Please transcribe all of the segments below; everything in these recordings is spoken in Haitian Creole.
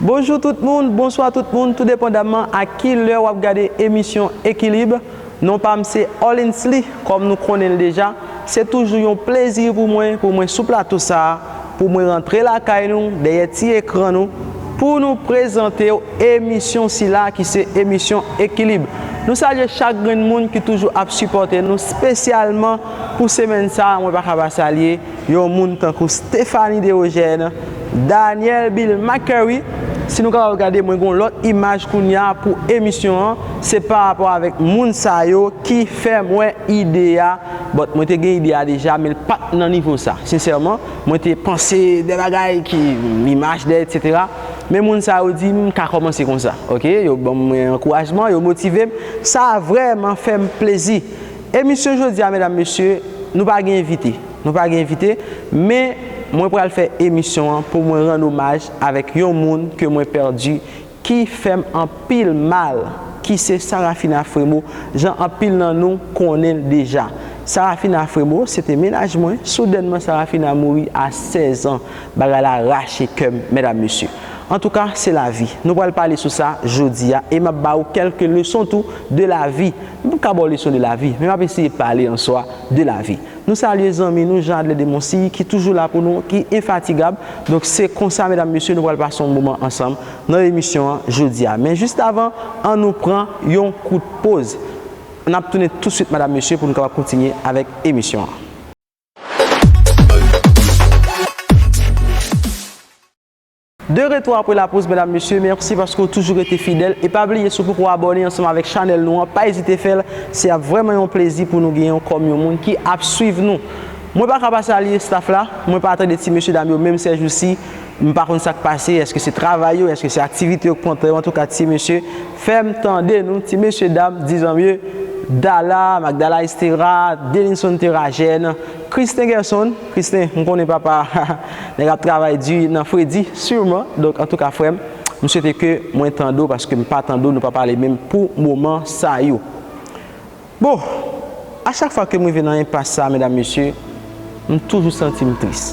Bonjou tout moun, bonswa tout moun tou depandaman ak ki lè wap gade emisyon Ekilib, non pam se Orlinsly kòm nou konnen l deja, se toujou yon plezi pou mwen pou mwen sou plato sa pou mwen rantre lakay nou dèyè ti ekran nou pou nou prezantew emisyon sila ki se emisyon Ekilib. Nou salye chak grenn moun ki toujou ap sipòte nou spesyalman pou semèn sa mwen pa ka pa salye Yon moun tankou Stephanie Derogène, Daniel Bill McCurry, si nou kapab gade mwen gen yon lòt imaj kounya pou emisyon an, se pa rapò avèk moun sa yo ki fè mwen ide a, but mwen te gen ide a deja men l pa t nan nivo sa sensèman, mwen te panse de bagay ki imaj de etc. Men moun sa yo di m m ka kòmanse konsa ok, yo ban mwen ankourajman, yo motive m, sa vrèman fè m plezi. Emisyon jodi a medam mesye nou pa gen envite nou pa gen envite men mwen pral fè emisyon an pou mwen rann omaj avèk yon moun ke mwen pèdi ki fèm anpil mal ki se Sarafina Fremo jan anpil nan nou konnen l deja Sarafina Fremo se te mennaj mwen soudènman Sarafina mouri a 16 ans bagay la rache kèm medam mesye antouka se lavi nou pral pale sou sa jodi a e map ba ou kèlke leson tou de lavi M ka ba w leson de lavi, men m ap eseye pale an swa de lavi. Nou salye zanmi nou Jean Adler Demoncy ki toujou la pou nou, ki enfatigab. Donk se konsa medam mesye nou pral pase yon moman ansanm nan emisyon an jodi a. Men jis avan an nou pran yon kout poz. N ap tounen touswit madam mesye pou nou kapab kontinye avèk emisyon an. De retou apre la poz medam mesye merci paske ou toujou rete fidèl e pa bliye si ou poko abòne ansanm avèk chanèl nou an pa ezite fèl se ap vrèman yon plezi pou nou genyenw kòm yon moun ki ap swiv nou mwen paka pa salye staff la mwen pa tande ti mesye dam yo menm sèjousi m pa konn sak pase eske se travay yo eske se aktivite yo k pran tan yo antouka ti mesye fèm tande nou ti mesye dam di zanmye dala magdala estera delinson tera jèn kristen gèson. Christin m konnen papa nèg ap travay di nan fredi sûrement donk antouka frèm m swete ke mwen tande w paske m pa tande w nou pa pale menm pou moman sa yo bon a chak fwa ke m rive nan enpas sa medam mesye m toujou santi m tris.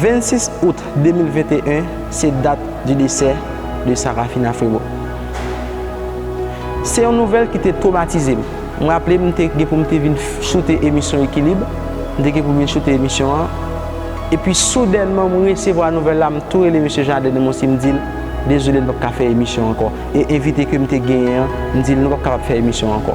26 août 2021 se dat di desè de Sarafina Frerot. Se yon nouvèl ki te twomatize m. M raple m te gen pou m te vin choute emisyon Ekilib, m te gen pou m vin choute emisyon an, epi soudènman m resevwa nouvèl la, m tou rele mesye Jean Adèle Monsi m di l, dezole n p ap ka fè emisyon ankò, e envite ke m te genyen an, m di l nou p ap kapab fè emisyon ankò.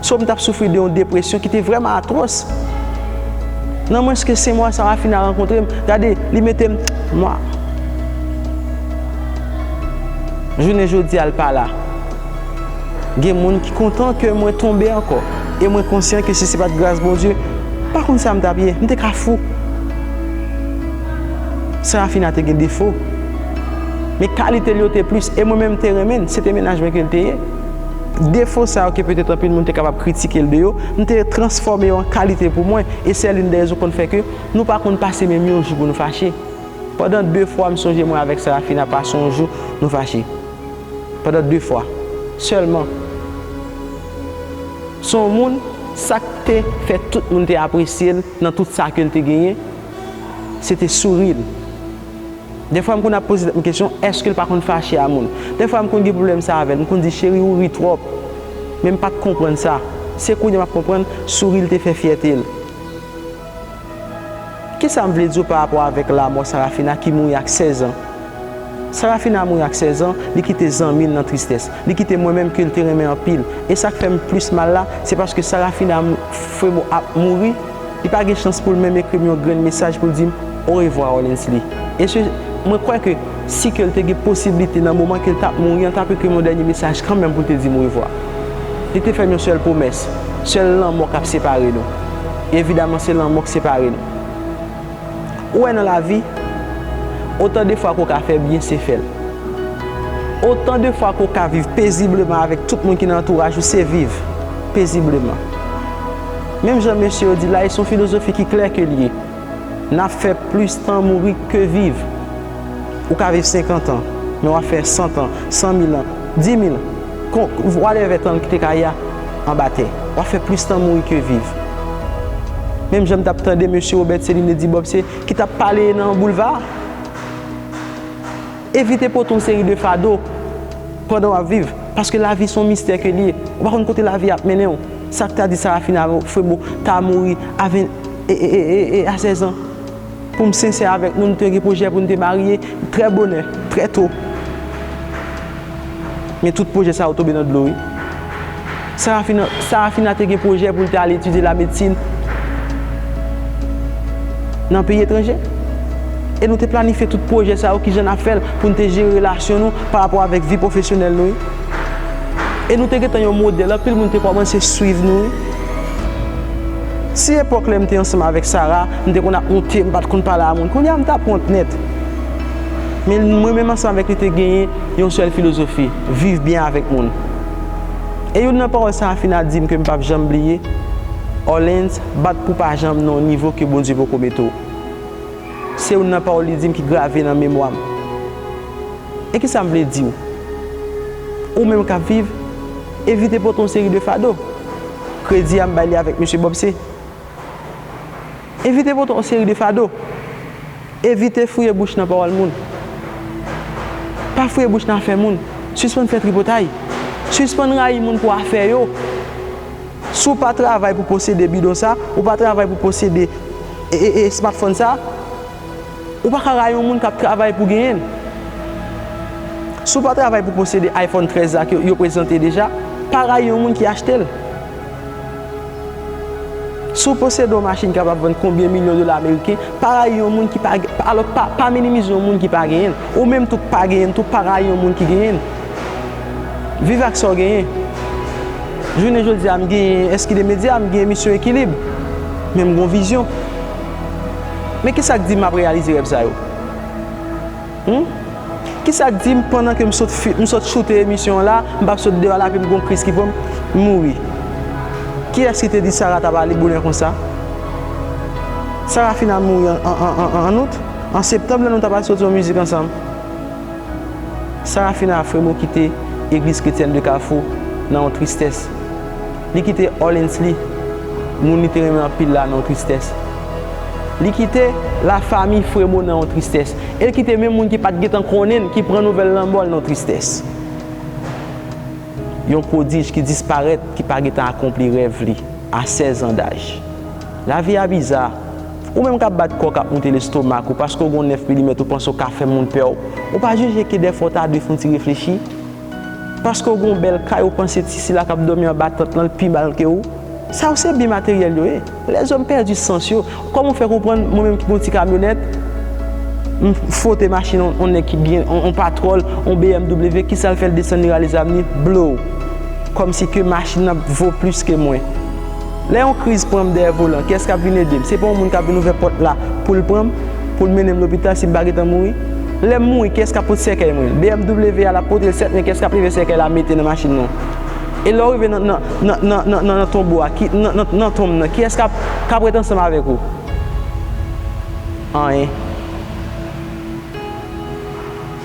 So m t ap soufri de yon depresyon ki te vrèman atwòs. Nan mwens ke se mwa Sarafina rankontre m, gade, li mete m mwa. Jounen jodi a l pa la. Gen moun ki kontan ke mwen tonbe ankò e mwen konsyan ke si se pa t gras Bondye, m pa konn sa m t ap ye, m te ka fou. Sarafina te gen defo, men kalite l yo te plis e mwen menm m te renmen l, se te mennaj mwen ke l te ye. Defo sa yo ke petèt anpil moun te kapab kritike l de yo, m te transfòme yo an kalite pou mwen, e sè lin dè rezon konn fè ke nou pa konn pase menm yon jou pou nou fache. Pandan de fwa m sonje mwen avèk Sarafina pase yon jou nou fache. Pandan de fwa. Sèlman. Se yon moun, sa k te fè tout moun te apresye l nan tout sa ke l te genyen, se te souri l. Dèfwa m konn ap poze tèt m kesyon èske l pa konn fache a moun. Dèfwa m konn gen pwoblèm sa avè l. M konn di cheri ou ri twòp. Men m pa t konprann sa. Se kounye a m ap konprann souri l te fè fyète l. Kisa m vle di w pa rapò avèk lamò Sarafina ki mouri ak sèzan. Sarafina mouri ak sèzan, li kite zanmi l nan tristès. Li kite mwen menm ke l te renmen anpil. E sa k fè m plis mal la, se paske Sarafina Fremo ap mouri. Li pa gen chans pou l menm ekri m yon grenn mesaj pou l di m orevwa Orlinsley. Esye, mwen kwè ke si ke l te gen posiblite nan moman ke l t ap mouri an l t ap ekri m yon dènye mesaj kanmenm pou l te di m orevwa. Li te fè m yon sèl pwomès, sèl lanmò k ap separe nou. E evidaman se lanmò k separe nou. Ou wè nan lavi, otan de fwa ke w ka fè byen, se fè l. Otan de fwa ke w ka viv pezibleman avèk tout moun ki nan antouraj ou, se viv pezibleman. Menm jan mesye yo di la, e se yon filozofi ki klè ke l ye, n ap fè plis tan mouri ke viv. Ou ka viv senkant an, men w ap fè santan, san mil an, di mil, kon, whatever tan ki te ka ya, anba tè. W ap fè plis tan mouri ke viv. Menm jan m t ap tande mesye Robert Céline di Bob se, ki t ap pale nan boulva a, Evite pote yon seri de fado pandan w ap viv, paske lavi se yon mistè ke li ye. Ou pa konn kote lavi ap mennen w. Sa k ta di Sarafina Frémaux ta mouri a 20 e, e, e, e, e a 16 an? Pou m sensè avèk nou, nou te gen pwojè pou n te marye trè bonè, trè to. Men tout pwojè sa yo tonbe nan dlo wi. Sarafina, Sarafina te gen pwojè pou l te al etidye lamedsin nan peyi etranje. E nou te planifye tout pwojè sa yo, ki jan n ap fè l, pou n te jere relasyon nou parapò avèk vi pwofesyonèl nou wi. E nou te gentan yon modèl, anpil moun te kòmanse swiv nou wi. Si epòk lè m te ansanm avèk Sara, M te konn ap wonte, m pa t konn pale a moun. Kounye a m t ap wont nèt. Men, mwen menm ansanm avèk li te genyen yon sèl filozofi, viv byen avèk moun. E youn nan pawòl sa a Fina di m ke m p ap janm bliye, Orlens, bat pou w pa janm nan yon nivo ke Bondye poko mete w. Se youn nan pawòl li di m ki grave nan memwa m. E kisa m vle di w? Ou menm k ap viv, evite pote yon seri de fado. Kredi a m bay li avèk Mesye Bobse. Evite pote yon seri de fado. Evite fouye bouch nan pawòl moun. Pa fouye bouch nan afè moun. Sispann fè tripotay. Sispann rayi moun pou afè yo. Si w pa travay pou posede bidon sa, ou pa travay pou posede smartphone sa, Ou pa ka rayi yon moun k ap travay pou genyen l. Si w pa travay pou posede iPhone 13 la ke yo prezante deja, pa rayi yon moun ki achte l. Si w posede yon machin ki kapab vann konbyen milyon dola ameriken, pa rayi yon moun ki pa genyen l. Alò, pa minimize yon moun ki pa genyen l. Ou menm tou k pa genyen l tou, pa rayi yon moun ki genyen l. Viv ak sa w genyen. Jounen jodi a, m genyen eski de medya, m gen emisyon Ekilib. Men m gen yon vizyon. Men kisa k di m ap reyalize rèv sa yo? Humm kisa k di m pandan ke m sot m sot choute emisyon an la m p ap sot deyò la epi m gon kriz ki pran m m mouri? Kiyès ki te di Sara t ap ale bonè konsa? Sara fin al mouri an an an an out an septanm lè nou t ap al soti yon mizik ansanm Sara fin al fremo kite Egliz Kretyèn de Kafou nan yon tristès. Li kite Orleans li, moun li te renmen anpil la nan yon tristès. Li kite lafanmi Fremo nan yon tristès. E l kite menm moun ki pa t gentan konnen l, ki pran nouvèl lanmò l nan yon tristès. Yon pwodij ki disparèt, ki pa gentan akonpli rèv li, a 16 an daj. Lavi a biza. Ou menm k ap bat kò w, k ap moute lestomak ou, paske w gen yon 9 milimèt ou panse w ka fè moun pè w, ou pa jije ke dèfwa w ta dwe fè yon ti reflechi? Paske w gen yon bèl kay ou panse ti sila kap dòmi anba tant lan l pi mal ke ou? Sa yo se byen materyèl yo ye. Lèzòm pèdi sans yo. Kòman ou fè konprann mwen menm ki gen yon ti kamyonèt, m fwote machin yon nèg ki byen, yon patròl, yon BMW, kisa l fè l desann li rale zam li, blow! Kòmsi ke machin nan vo plis ke mwen. Lè yon kriz pran m dèyè volan, kiyès k ap vin ede m? Se pa yon moun k ap vin ouvè pòt la pou l pran m, pou l mennen m lopital si m pa gen tan mouri? Lè m mouri, kiyès k ap pot sèkèy mwen? BMW a l ap pote l sèt men kiyès k ap leve sèkèy la mete nan machin nan? E lè w rive nan nan nan tonbo a, ki nan nan nan tonm nan, kiyès k ap k ap ret ansanm avèk ou? Anyen.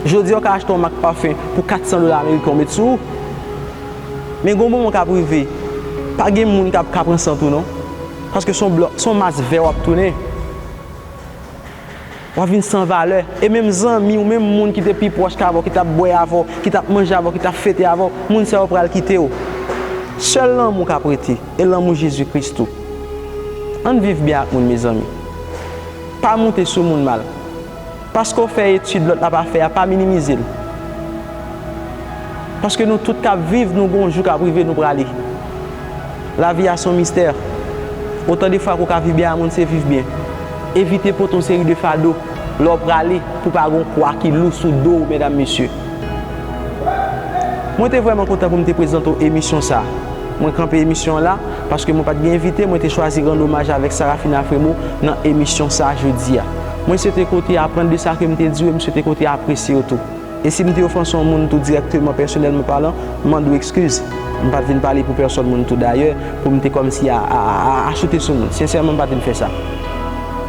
Jodi a w ka achte yon mak pafen pou 400 dola ameriken w met sou ou. Men gon moman kap rive pa gen moun kap ka pran sant ou non paske son blò son mas vè wap tounen wap vin san valè e menm zanmi ou menm moun ki te pi pwòch avèw ki tap bwè avèw ki tap manje avèw ki tap fete avèw moun sa yo pral kitew sèl lanmou kap rete e lanmou Jezi Kris tou ann viv byen ak moun mezanmi pa moute sou moun mal. Paske w fè etid lòt la pa fè a, pa minimize l. Paske nou tout k ap viv, nou gen yon jou k ap rive nou prale. Lavi a se yon mistè. Otan de fwa ke w ka viv byen a moun se viv byen. Evite pote yon seri de fado lè w prale pou pa gen yon kwa ki lou sou do w medam mesye. Mwen te vrèman kontan pou m te prezante w emisyon sa. Mwen kanpe emisyon an la, paske mwen pa t gen envite, mwen te chwazi rann omaj avèk Sarafina Fremo nan emisyon sa jodi a. Mwen swete ke w te aprann de sa ke m te di w e m swete ke w te apresye yo tou. E si m te ofanse yon moun tou dirèkteman, pèsonèlman palan, m mande w ekskiz. M pa t vin pale pou pèsòn moun tou dayè, pou m te kòmsi a, a, a, a choute sou moun. Sensèman m pa t vin fè sa.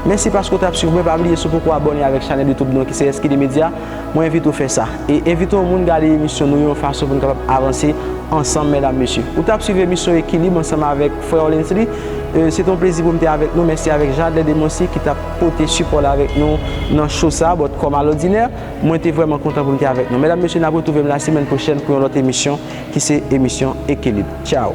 Mèsi paske w t ap swiv mwen. Pa bliye si w poko abòne avèk chanèl YouTube nou an ki se SKD Media, mwen envite w fè sa. E envite yon moun gade emisyon nou yo yon fason pou n kapab avanse ansanm medam mesye. Ou t ap swiv emisyon Ekilib ansanm avèk frè Olensley. Se te yon plezi pou m te avèk nou. Mèsi avèk Jadley Demoncy ki t ap. pote sipòl avèk nou nan show sa but kòm alòdinè mwen te vrèman kontan pou m te avèk nou mèdam mesye nap retrouve m la semèn pwochèn pou yon lòt emisyon ki se emisyon ekilib tchao.